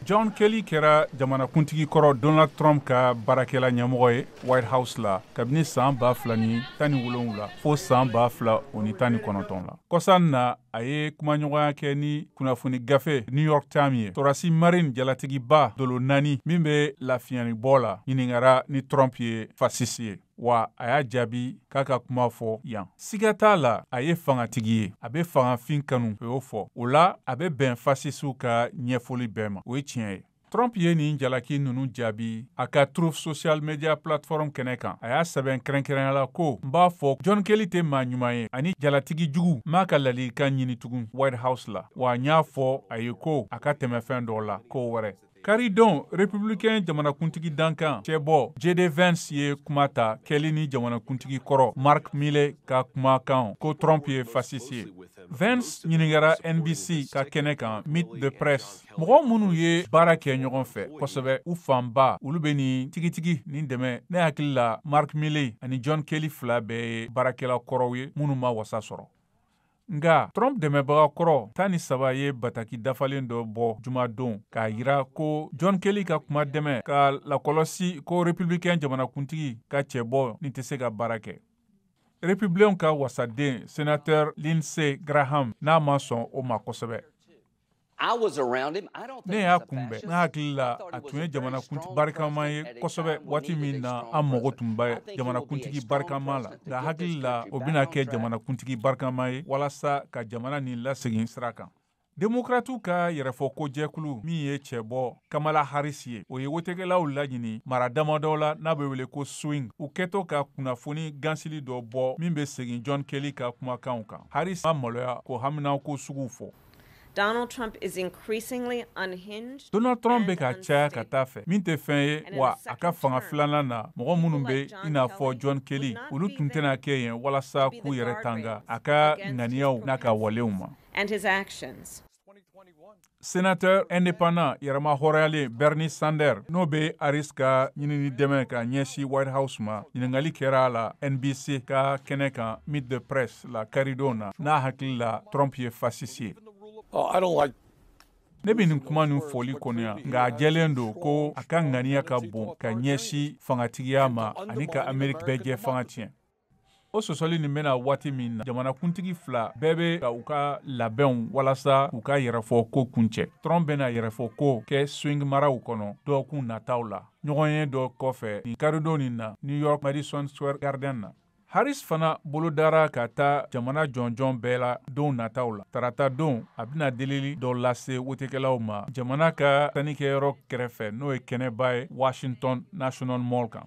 john kelly kɛra jamanakuntigi kɔrɔ donald trump ka baarakɛla ɲɛmɔgɔ ye white house la kabini san ba fila ni tan ni wolonwula fo san ba fila o ni tan ni kɔnɔntɔn la kɔsan na a ye kumaɲɔgɔnya kɛ ni kunnafoni gafe new york times ye torasi marin jalatigiba dolo naani min bɛ lafiɲanibɔ la ɲininkara ni trump ye fasisi ye wa a y'a jaabi k'a ka kuma fɔ yan siga t'a la a ye fangatigi ye a bɛ fangafin kanu o y'o fɔ o la a bɛ bɛn fasisiw ka ɲɛfɔli bɛɛ ma o ye tiɲɛ ye Trump ye nin jalaki ninnu jaabi a ka Truth Social Media Platform kɛnɛ kan. A y'a sɛbɛn kɛrɛnkɛrɛnya la ko, n b'a fɔ John Kelly tɛ maa ɲuman ye ani jalatigi jugu m'a ka ladilikan ɲini tugun White House la, wa n y'a fɔ a ye ko a ka tɛmɛ fɛn dɔ la ko wɛrɛ. Karidon republicain jamanakuntigi dankan cɛbɔ JD Vance ye kuma ta Kelly ni jamanakuntigi kɔrɔ Mark Milley ka kumakan ko Trump ye fasisi ye. Vance ɲininkara NBC ka kɛnɛ kan Meet the Press mɔgɔ minnu ye baara kɛ ɲɔgɔn fɛ kosɛbɛ u fanba olu bɛ nin tigitigi nin dɛmɛ ne hakili la Mark Milley ani John Kelly fila bɛɛ ye baarakɛla kɔrɔw ye minnu ma wasa sɔrɔ. Nga Trump dɛmɛbaga kɔrɔ tan ni saba ye bataki dafalen dɔ bɔ jumadon k'a yira ko John Kelly ka kuma dɛmɛ ka lakɔlɔsi ko republicain jamanakuntigi ka cɛbɔ nin tɛ se ka baara kɛ. Republicainw ka wasaden senateur Lindsey Graham n'a ma sɔn o ma kosɛbɛ. ne y'a kunbɛn ne hakili la a tun ye jamanakuntigi barikama ye kosɛbɛ waati min na an mago tun bɛ jamanakuntigi barikama la n ka hakili la o bɛna kɛ jamanakuntigi barikama ye walasa ka jamana nin lasegin sira kan demokratiw ka yɛrɛfɔko jɛkulu min ye cɛbɔ kamala harris ye o ye wotekɛlaw laɲini mara damadɔ la n'a bɛ wele ko swing u kɛtɔ ka kunnafoni gansili dɔ bɔ min bɛ segin john kelly ka kumakanw kan harris ma maloya k'o haminako suguw fɔ Donald Trump is increasingly unhinged. Donald Trump bɛ ka caya ka taa a fɛ min tɛ fɛn ye wa a ka fanga filanan na mɔgɔ minnu bɛ i n'a fɔ John Kelly olu tun tɛna kɛ yen walasa k'u yɛrɛ tanga a ka ŋaniyaw n'a ka walew ma. And his actions. Sénateur indépendant yɛrɛmahɔrɔnyalen Bernie Sanders n'o bɛ Harris ka ɲinini dɛmɛ ka ɲɛsin White House ma, ɲininkali kɛra a la NBC ka kɛnɛ kan Meet the Press. la karidon na n'a hakili la trump ye fasisi ye oh, ne bɛ nin kuma nin fɔli kɔniya nka a jɛlen don ko a ka ŋaniya ka bon ka ɲɛsin fangatigiya ma ani ka amerika bɛɛjɛfanga tiɲɛ o sɔsɔli nin bɛ na waati min na jamanakuntigi fila bɛɛ bɛ ka u ka labɛnw walasa u ka yɛrɛfɔko kuncɛ trump bɛna yɛrɛfɔko kɛ swing maraw kɔnɔ dɔɔkun nataw la ɲɔgɔnye dɔ kɔfɛ nin karidon nin na new york madison square garden na Harris fana bolodara ka taa jamana jɔnjɔn bɛɛ la don nataw la tarata don a bɛna delili dɔ lase wotekɛlaw ma jamana ka sannikɛyɔrɔ kɛrɛfɛ n'o ye kɛnɛba ye washington national mall kan